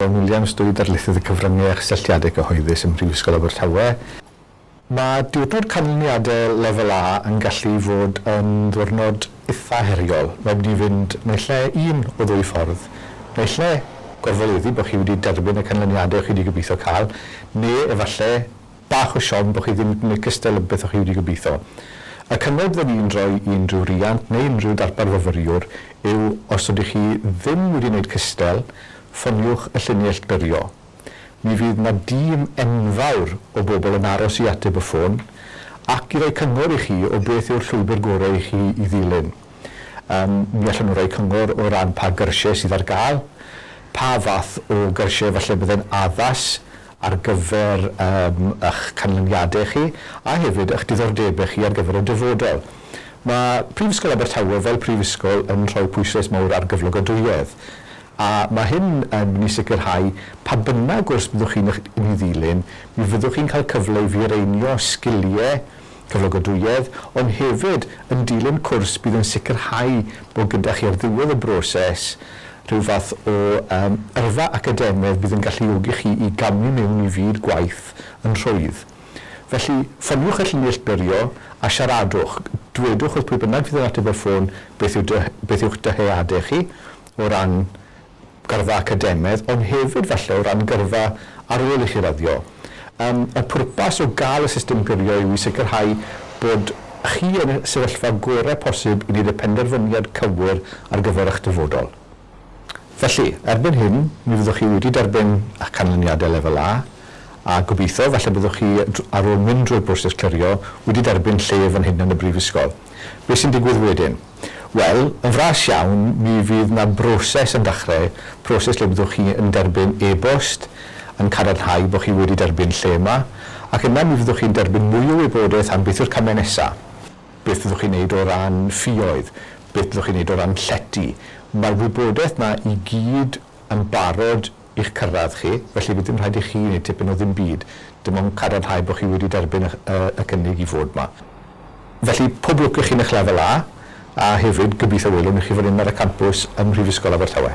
John Williams, Dwy Ddarlithydd y Cyfryngau a Chysylltiadau Cyhoeddus ym Mhrifysgol Abertawe. Mae diwrnod canlyniadau Lefel A yn gallu fod yn ddiwrnod eitha' heriol. Mae'n mynd i fynd naill ai un o ddwy ffordd, naill ai gorfoleddu bod chi wedi derbyn y canlyniadau o'ch chi 'di gobeithio cael, neu efallai bach o siom bo chi ddim yn licio styl beth o chi wedi gobeitho. Y cyngor fydden i'n rhoi i unrhyw riant neu unrhyw darpar fyfyriwr yw os ydych chi ddim wedi wneud cystel, ffoniwch y llinell byrio. Mi fydd 'na dîm enfawr o bobl yn aros i ateb y ffôn ac i roi cyngor i chi o beth yw'r llwybr gorau i chi i ddilyn. Yym, mi allen nhw roi cyngor o ran pa gyrsiau sydd ar gael, pa fath o gyrsiau falle byddai'n addas ar gyfer eich canlyniadau chi a hefyd eich diddordebau chi ar gyfer y dyfodol. Mae Prifysgol Abertawe fel prifysgol yn rhoi pwyslais mawr ar gyflogadwyedd a mae hyn yn mynd i sicrhau pa bynnag gwrs byddwch chi'n ei ddilyn, mi fyddwch chi'n cael cyfle i fireinio sgiliau Cyflogadwyedd, ond hefyd yn dilyn cwrs bydd yn sicrhau bod gyda chi ar ddiwedd y broses rhyw fath o yym yrfa academaidd bydd yn galluogi chi i gamu mewn i fyd gwaith yn rhwydd. Felly, ffoniwch y llun neillturio a siaradwch, dwedwch wrth pwy bynnag fydd yn ateb y ffôn beth yw dy- beth yw'ch dyheadau chi o ran gyrfa academaidd, ond hefyd falle o ran gyrfa ar ôl i chi raddio. Yym, y pwrpas o gael y system gyrio yw i sicrhau bod chi yn y sefyllfa gorau posib i wneud y penderfyniad cywir ar gyfer eich dyfodol. Felly, erbyn hyn, mi fyddwch chi wedi derbyn eich canlyniadau Lefel A, a gobeithio, falle byddwch chi, ar ôl mynd drwy'r broses clirio, wedi derbyn lle fan hyn yn y brifysgol. Beth sy'n digwydd wedyn? Wel, yn fras iawn, mi fydd 'na broses yn dachrau, proses lle byddwch chi yn derbyn e-bost yn cadarnhau bod chi wedi derbyn lle yma, ac yna mi fyddwch chi'n derbyn mwy o wybodaeth am beth yw'r camau nesa', beth fyddwch chi'n neud o ran ffioedd, beth byddwch chi'n neud o ran llety. Mae'r wybodaeth 'na i gyd yn barod i'ch cyrraedd chi, felly fydd dim rhaid i chi wneud tipyn o ddim byd, dim ond cadarnhau bod chi wedi derbyn y y y cynnig i fod 'ma. Felly, pob lwc i chi yn eich Lefel A, a hefyd, gobeithio welwn i chi fan hyn ar y campws ym Mhrifysgol Abertawe.